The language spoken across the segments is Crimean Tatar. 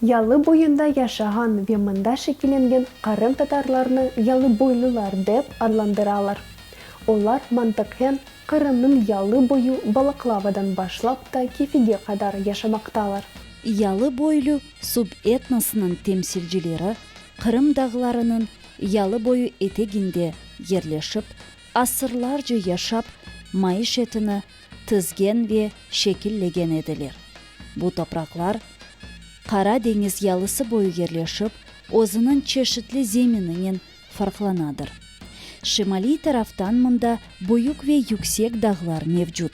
Yalı boyunda yaşağan ve mında şekillengen qırımtatarlarnı yalıboylular dep adlandıralar. Olar mantıqen Qırımnıñ yalı boyu Balaklavadan başlap ta Kefige qadar yaşamaqtalar. Yalıboylu subetnosınıñ temsilcileri Qırım dağlarınıñ yalıboyu eteginde yerleşip, asırlarca yaşap, maişetini tizgen ve şekillegen ediler. Bu topraqlar Qara deñiz yalısı boyu yerleşip, özüniñ çeşitli zemininen farqlanadır. Şimaliy taraftan mında büyük ve yüksek dağlar mevcut.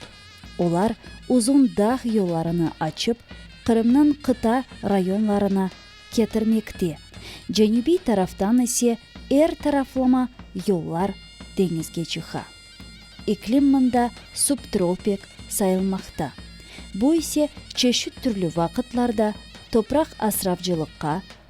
Olar uzun dağ yollarını açıp, Qırımnıñ qıta rayonlarına ketirmekte, cenübiy taraftan ise er taraflama yollar deñizge çıqa. İklim mında subtropik sayılmaqta, bu ise çeşit türlü vaqıtlarda topraq asravcılıqqa,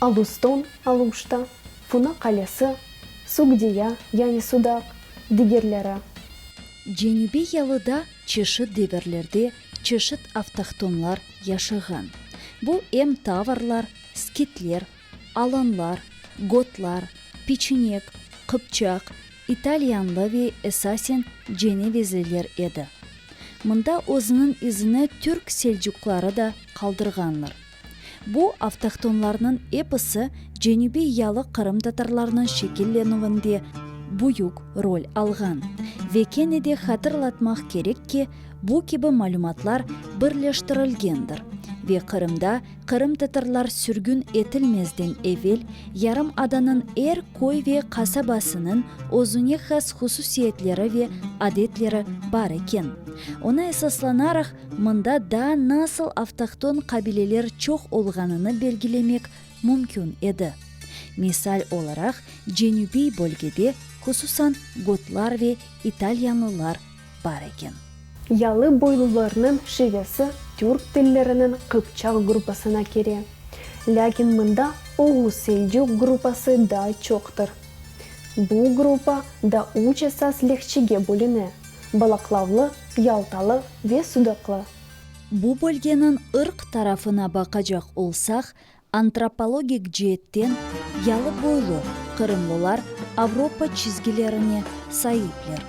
Aluston, Aluşta, Funa qalesi, Sugdiya, yani Sudaq, digerleri. Cenübiy yalıda çeşit devirlerde çeşit avtohtonlar yaşağan. Bu em tavarlar, skitler, alanlar, gotlar, peçinek, qıpçaq, italyanlı ve esasen cenevezliler edi. Mında özüniñ izini türk selcuqları da qaldırğanlar. Bu avtohtonlarnıñ episi cenübiy yalı qırımtatarlarnıñ şekillenüvinde büyük rol alğan. Ve kene de hatırlatmaq kerek ki, bu kibi malümatlar birleştirilgendir ve Qırımda qırımtatarlar sürgün etilmezden evel yarımadanıñ er köy ve qasabasınıñ özüne has hususiyetleri ve adetleri bar eken. Oña esaslanaraq, Mında da nasıl avtohton qabileler çoq olğanını belgilemek mümkün edi. Misal olaraq, cenübiy bölgede, hususan, gotlar ve italyanlılar bar eken. Yalı boylularnıñ şivesi türk tilleriniñ qıpçaq gruppasına kire, lâkin mında oğuz-selcuk gruppası daa çoqtır. Bu gruppa da üç esas lehçege bölüne. Balaqlavlı, Yaltalı ve Sudaqlı. Bu bölgeniñ ırq tarafına baqacaq olsaq, antropologik ceetten yalı boylu qırımlılar Avropa çizgilerine saipler,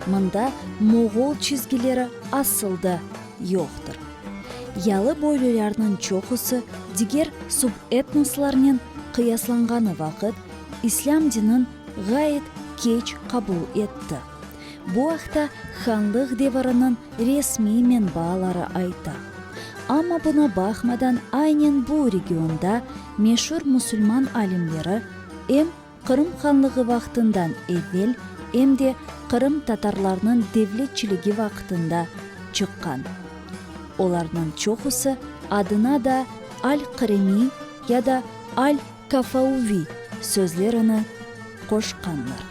mında moğol çizgileri asıl da yoqtır. Yalı boylülarnıñ çoqusı diger subetnoslarnen qıyaslanğanı vaqıt, islâm dinin ğayet keç qabul etti. Bu aqta hanlıq deviriniñ resmiy menbaaları ayta. Amma buna baqmadan aynen bu regionda meşur musulman alimleri em Qırım Hanlığı vaqtından evel, em de Qırım tatarlarnıñ devletçiligi vaqtında çıqqan. Olarnıñ çoqusı adına da Al-Qırımi ya da Al-Kafauvi sözlerini qoşqanlar.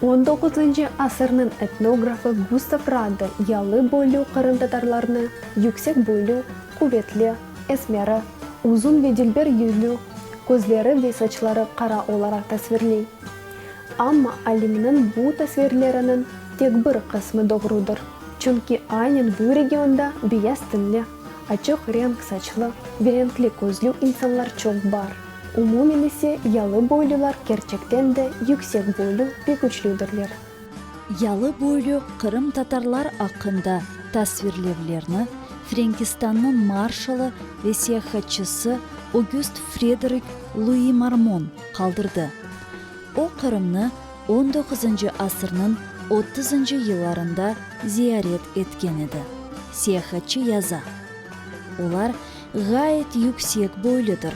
On doquzıncı asırnıñ etnografı Gustav Radde yalı boylü qırımtatarlarnı yüksek boylü, quvetli, esmeri, uzun ve dilber yüzlü, közleri ve saçları qara olaraq tasvirley. Amma alimniñ bu tasvirleriniñ tek bir qısmı doğrudır, çünki aynen bu regionda beyaz tenli, açıq renk saçlı ve renkli közlü insanlar çoq bar. Umumen ise, yalı boylular kerçekten de yüksek boylu ve küçlüdirler. Yalı boylu qırımtatarlar aqqında tasvirlevlerni Frenkistannıñ marşalı ve seyahatçısı Ögüst Frederik Lui Marmon qaldırdı. O, Qırımnı on doquzıncı asırnıñ otuzıncı yıllarında ziyaret etken edi. Seyahatçı yaza, Olar ğayet yüksek boyludır,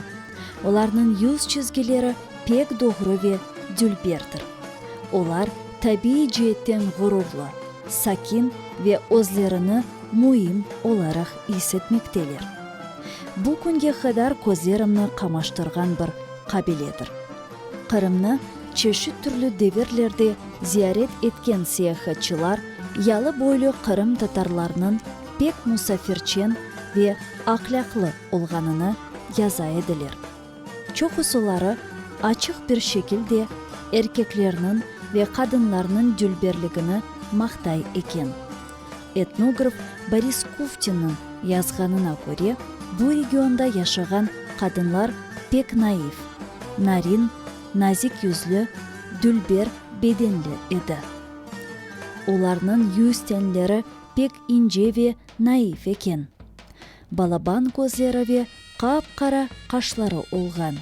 olarnıñ yüz çizgileri pek doğru ve dülberdir. Olar tabiiy ceetten ğururlı, sakin ve özlerini müim olaraq is etmekteler. Bu künge qadar közlerimni qamaştırğan bir qabiledir. Qırımnı çeşit türlü devirlerde ziyaret etken seyahatçılar yalı-boylu qırımtatarlarnıñ pek musafirçen ve ahlâqlı olğanını yaza ediler. Çoqusuları açıq bir şekilde erkeklerniñ ve qadınlarnıñ dülberligini maqtay eken. Etnograf Boris Kuftinniñ yazğanına köre, bu regionda yaşağan qadınlar pek naiv, narin, nazik yüzlü, dülber bedenli edi. Olarnıñ yüz tenleri pek ince ve naif eken. Balaban közleri ve qap-qara qaşları olğan.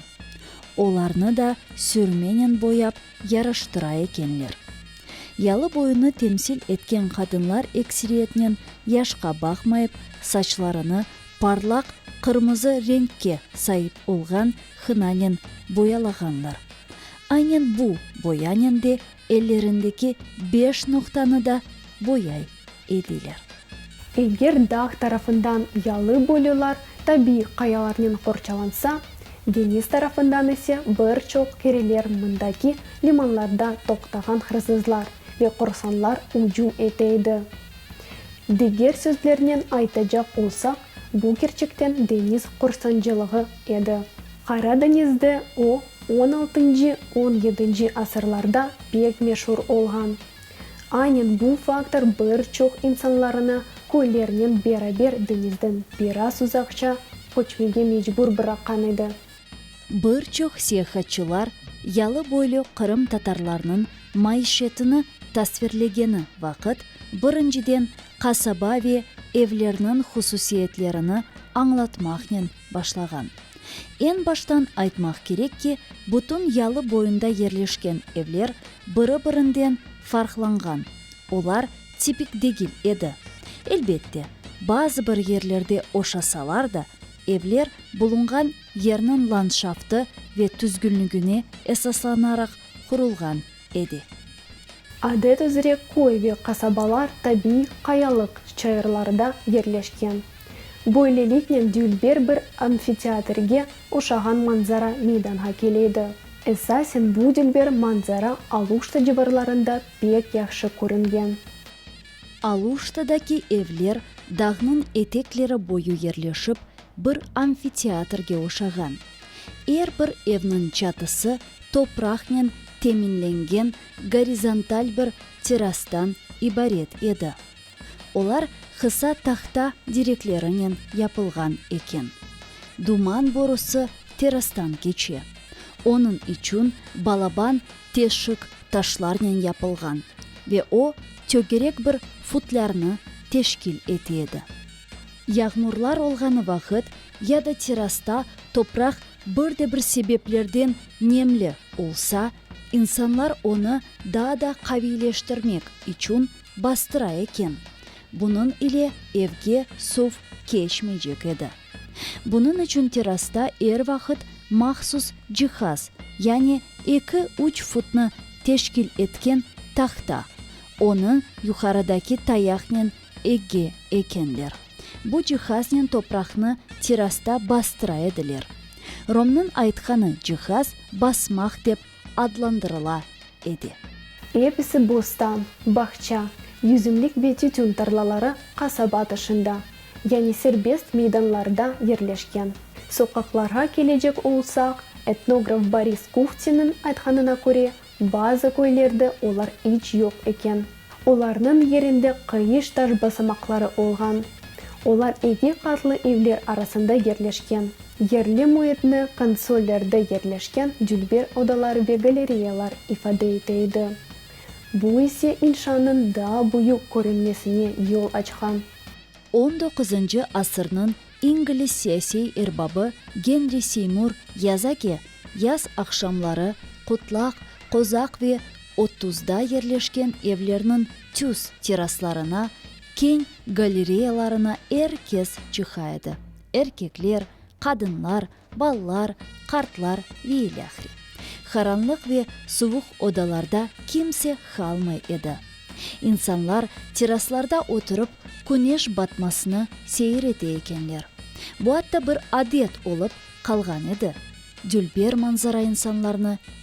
Olarnı da sürmenen boyap yaraştıra ekenler. Yalı boyunı temsil etken qadınlar ekseriyetnen yaşqa baqmayıp, saçlarını parlaq qırmızı renkke saip olğan hınanen boyalağanlar. Aynen bu boyanen de Ellerindeki beş noqtanı da boyay ediler. Eger dağ tarafından yalı boylular tabiiy qayalarnen qorçalansa, deñiz tarafından ise bir çoq keriler mındaki limanlarda toqtağan hırsızlar ve qorsanlar ücüm ete edi. Diger sözlernen aytacaq olsaq, bu kerçekten deñiz qorsancılığı edi. Qara deñizde o, on altıncı, on yedinci asırlarda pek meşur olğan. Aynen bu faktor bir çoq insanlarını köylernen beraber deñizden biraz uzaqça köçmege mecbur bıraqqan edi. Bir çoq seyahatçılar yalı-boylu qırımtatarlarnıñ maişetini tasvirlegeni vaqıt, birinciden, qasaba ve evlerniñ hususiyetlerini añlatmaqnen, başlağan. Eñ baştan aytmaq kerek ki, bütün yalı boyunda yerleşken evler biri-birinden farqlanğan, olar tipik degil edi. Elbette, bazı bir yerlerde oşasalar da, evler bulunğan yerniñ landşaftı ve tüzgünligine esaslanaraq qurulğan. edi. Adet üzre köy ve qasabalar tabiiy qayalıq çayırlarda yerleşken. Böyleliknen dülber bir amfiteatrge oşağan manzara meydanğa keledi. Esasen bu dülber manzara Aluşta civarlarında pek yahşı körüngen. Aluştadaki evler dağnıñ etekleri boyu yerleşip, bir amfiteatrge oşağan. Er bir evniñ çatısı topraqnen teminlengen gorizontal bir terastan ibaret edi. Olar qısa tahta direklerinen yapılğan eken. Duman borusı terastan keçe. Onıñ içün balaban teşik taşlarnen yapılğan ve o tögerek bir futlârnı teşkil ete edi. Yağmurlar olğanı vaqıt ya da terrasta topraq bir de bir sebeplerden nemli olsa, insanlar onı daa da qaviyleştirmek içün bastıra eken, bunıñ ile evge suv keçmeycek edi. Bunıñ içün terrasta er vaqıt mahsus cihaz, yani eki-üç futnı teşkil etken tahta, onı yuqarıdaki tayaqnen Ege, ekenler. Bu cihaznen topraqnı terasta bastıra ediler. Romnıñ aytqanı cihaz basmaq dep adlandırıla edi. Episi bostan, bağça, yüzümlik ve tütün tarlaları qasaba tışında, yani serbest meydanlarda yerleşken. Soqaqlarğa kelecek olsaq, etnograf Boris Kuhtinin aytqanına köre, Bazı köylerde olar iç yoq eken. Olarnıñ yerinde qayış taş basamaqları olğan. Olar eki qatlı evler arasında yerleşken. Yerli müitni konsollerde yerleşken dülber odalar ve galereyalar ifade ete edi. Bu ise inşanıñ daa büyük körünmesine yol açqan. On doquzıncı asırnıñ İngliz siyasiy erbabı Genri Seymur yaza ki, yaz aqşamları Qutlaq, Qozaq ve Otuzda yerleşken evlerniñ tüz teraslarına, keñ galereyalarına er kes çıqa edi, erkekler, qadınlar, Balalar, qartlar ve ilâhre. Qaranlıq ve suvuq odalarda kimse qalmay edi. İnsanlar teraslarda oturıp, küneş batmasını seyir ete ekenler. Bu atta bir adet olıp qalğan edi. Dülber manzara insanlarnı.